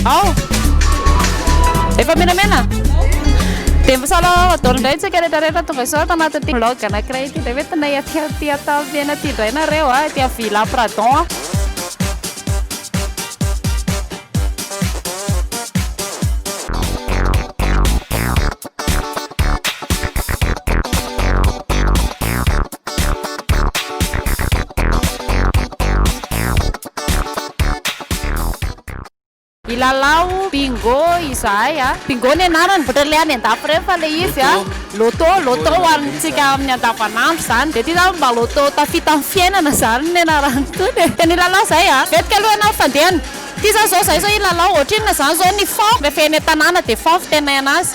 Ao. Efa menamena. Dia misaotra adolo indray tsika rehetrarehetra tonga izao tao anaty ity vlog anankiray ity. Dia hoe tinay aty aty ataviana aty indray nareo a, aty Villa Pradon a. Ilalao bingo izahay a. Bingo ny anarany, ohatran'ilay any an-dafy ireny fa ilay izy a, loto, loto ho antsika amin'ny andavanandro izany. Dia ity izany mba loto tafita amin'ny fiainana izany ny anarany itony e. Dia ny lalao izay a, mety ka aloha ianao fandehana. Ity izany izao izahay izao hilalao, ohatrinona izany izao ny fanf, rehefa eny an-tanàna dia fanf no tenaina azy.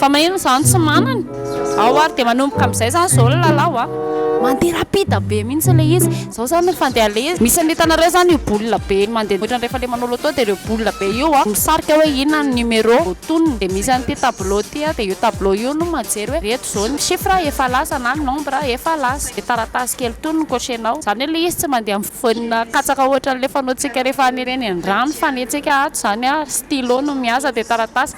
Fa maheno izany tsy manana ao ary dia manomboka amin'izay izany izao ny lalao a! Mandeha rapide be mihitsy ilay izy. Izao izany ny fandehan'ilay izy. Misy an'io hitanareo izany io boule be mandeha ohatrany rehefa ilay manao loto dia ireo boule be io misarika hoe inona ny numéro tonony dia misy an'ity tableau ity dia io tableau io no majery hoe ireto izao ny chiffres efa lasa na ny nombres efa lasa. Dia taratasy kely toy ny cocher-nao. Izany hoe ilay izy tsy mandeha amin'ny fotoana katsaka ohatran'ilay fanaontsika rehefa any ireny andrano fanentsika ato izany a! Stylo no miasa dia taratasy.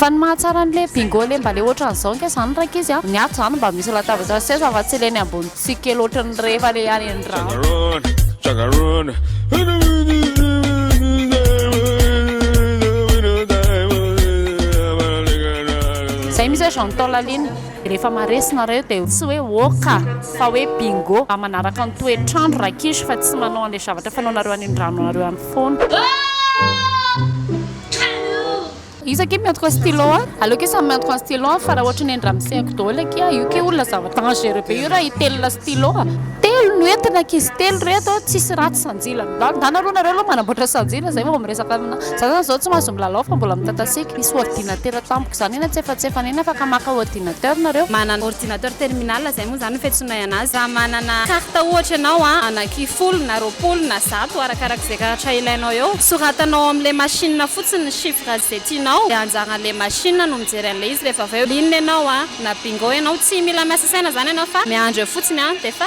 Fa ny mahatsara ny le bingo le mba le ohatran'izao nge zany rankizy a! Ny ato zany mba misy latabatra sy seza fa tsy le ny ambony tsihy kely ohatran'ny rehefa le any an-drano. Rehefa maharesy nareo dia tsy hoe ok fa hoe bingo mba manaraka ny toetrandro rakiso fa tsy manao anle zavatra fanaonareo any ny ranonareo any foana. Iza akia miantoka stylo an? Aleo akia samy miantoka ny stylo an fa raha ohatry ny eny ramisehako daholo akia io akia olona zava dangereux be io raha hitelina stylo an. Telo no entina ankizy telo reto tsisy ratsy sanjila ndany ndany aloha nareo aloha manamboatra sanjila zay vao miresaka amina za zany zao tsy mahazo milalao fa mbola mitatasiaka nisy ordinatera tamiko. Zany na tsy efa tsy efa neny afaka maka ordinateur nareo. Manana ordinateur terminal izay moa izany no fiantsoanay anazy. Raha manana carte ohatra ianao an, anaky folo na roapolo na zato arakaraka izay karatra ilainao eo. Soratanao ao amin'ilay machine fotsiny ny chiffres izay tianao dia anjaran'ilay machine no mijery an'ilay izy rehefa avy eo. Lina ianao an, na bingo ianao, tsy mila miasa saina izany ianao fa miandry eo fotsiny an, dia efa.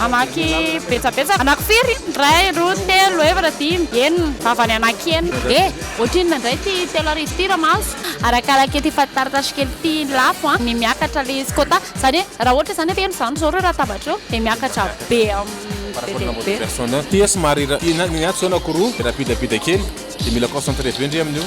Hamaky betsabetsaka. Hanaky firy? Iray, roa, telo, efatra, dimy, enina. Vavany hanaky enina. Dia ohatrinona indray ity telo arivo ity Ramaso? Arakaraka ity faritaritasy kely ity lafo an, ny miakatra ilay izy quota. Izany hoe raha ohatra izany telo izany izao ireo latabatra ireo dia miakatra be amin'ny be dia be. Ity hoe somary ina ny ahy tsy hoe anakoroa, rapide rapide kely dia mila concentré be ndry amin'io.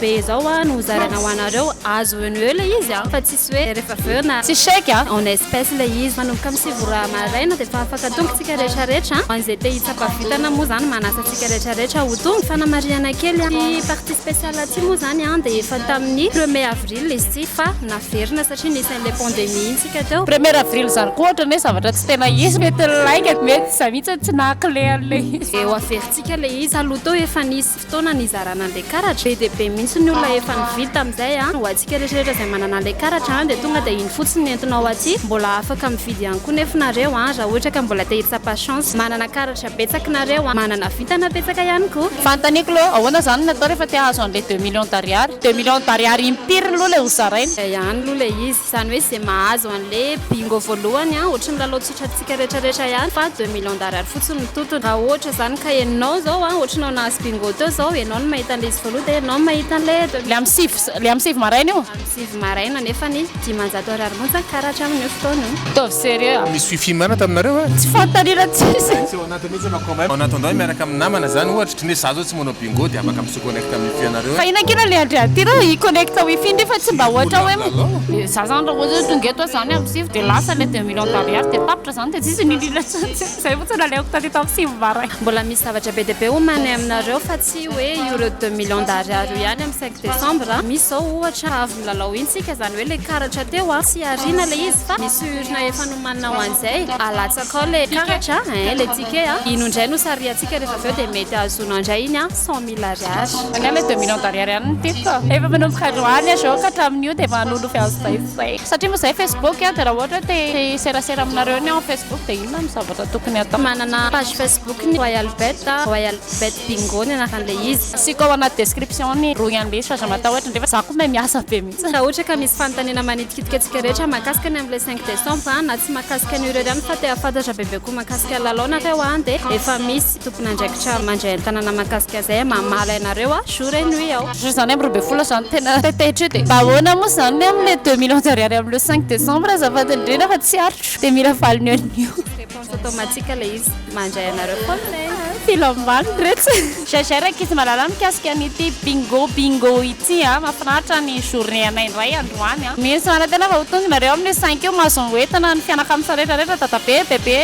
be zao a no hozaraina ho anareo azo eo no eo le izy a fa tsisy hoe rehefa avy eo na tsy chèque a en espèce le izy manomboka amin'ny sivy ora maraina de efa afaka tonga tsika rehetra rehetra a ho an'izay te hitsapa vintana moa zany manasa antsika rehetra rehetra ho tonga fanamarihana kely a ity partie spéciale ty moa zany a de efa tamin'ny premier avril izy ty fa naverina satria nisy an'ilay pandémie iny tsika teo. Premier avril zany koa ohatran'ny hoe zavatra tsy tena hisy mety laika mety za mihitsy tsy naha clé an'le izy. Eoaverintsika le izy taloha teo efa nisy. Fotoana nizarana an'ilay karatra. Be dia be mihitsy ny olona efa nividy tamin'izay. Ho antsika rehetrarehetra izay manana an'ilay karatra dia tonga dia iny fotsiny no entinao aty. Mbola afaka mividy ihany koa nefa nareo raha ohatra ka mbola te hitsapa chance. Manana karatra betsaka nareo, manana vintana betsaka ihany koa. Fanontaniako aloha, ahoana izany no atao rehefa te hahazo an'ilay deux millions d'ariary? Deux millions d'ariary impiry aloha ilay ho zaraina? Izay ihany aloha ilay izy. Izany hoe izay mahazo an'ilay bingo voalohany an, ohatry ny lalao tsotra antsika rehetra rehetra ihany fa deux millions d'ariary fotsiny no tontony. Raha ohatra izany ka ianao izao an, ohatry ny anao nahazo bingo teo izao, ianao no mahita an'ilay izy voalohany dia ianao no mahita an'ilay deux millions. Ilay amin'ny sivy, ilay amin'ny sivy maraina io? Amin'ny sivy maraina nefa ny dimanjato ariary monja kara hatramin'io fotoana io. Ataovy sérieux a! Misy wifi mana taminareo ve? Tsy fantanina tsisy. Tsy ao anaty mihitsy ianao quand même. Ao anaty ndao miaraka amin'ny namana izany ohatra, ohatry ny hoe za zao tsy manao bingo dia afaka. Fa inona kena le Andry aty reo i connect wifi ndry fa tsy mba ohatra hoe mi za zany ra ohatra hoe tonga eto ah zany am sivy de lasa le deux millions d'ariary de tapitra zany de tsisy milina tsony zay fotsiny alehako taty tam sivy maray. Mbola misy zavatra be dia be homane aminareo fa tsy hoe io reo deux millions d'ariary io ihany am cinq décembre a, misy zao ohatra fa avy milalao iny tsika zany hoe le karatra teo a tsy ariana le izy fa misy urne efa nomanina ho an'izay alatsaka ao le karatra ein le ticket a ino ndray no sariatsika refa avy eo de mety ahazoanao ndray iny a. cent mille ariary any ilay deux millions d'ariary any ny tiako e. efa manomboka androany azao ka hatramin'io dia manonofy an'izay sy izay satria moa izay facebook dia raha ohatra hoe te hiserasera aminareo ny ao facebook dia inona no zavatra tokony atao manana page facebook ny royal bet royal bet bingo ny anaran'ilay izy asiko ao anaty description ny rohy an'ilay izy fa aza matahotra nefa izaho koa mahay miasa be mihitsy raha ohatra ka misy fanontaniana manitikitika antsika rehetra mahakasika ny amin'ilay cinq décembre na tsy mahakasika an'io irery ihany fa te hahafantatra bebe koa mahakasika ny lalao nareo dia efa misy Tompon'andraikitra mandray an-tanana mahakasika izay mamaly anareo aho jour et nuit aho. Jour zany amin'ny roa ambin'ny folo zany tena taitaitra io dia mba ahoana moa zany ny amin'ilay deux millions ariary amin'ny le cinq décembre azafady indrindra fa tsy aritro dia mila valiny eo ny eo. Réponse automatique ilay izy mandray anareo foana ilay izy. Filam-baly ry reto. J'aimerais rankizy malala mikasika an'ity bingo bingo ity an, mahafinaritra ny journée anay indray an. ho any an. Mino sy manantena fa ho tonga nareo amin'io cinq io mahazo ho entina ny fianaka misa rehetra rehetra dadabe, bebe,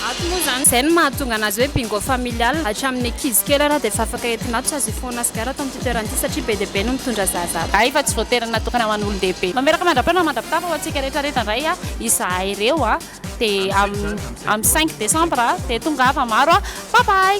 ato moa zany. Izay no mahatonga anazy hoe bingo familial hatramin'ny ankizy kely ary dia efa afaka entina ato tsy azo hifohana sigara ato amin'ity toerana ity satria be dia be no mitondra zaza ato. Hay fa tsy voatery natokana ho an'olon-dehibe. Mameraka mandra-pihaonana mandra-pitafa ho antsika rehetra rehetra indray a izahay ireo a dia amin'ny cinq decembre dia tongava maro a bye bye.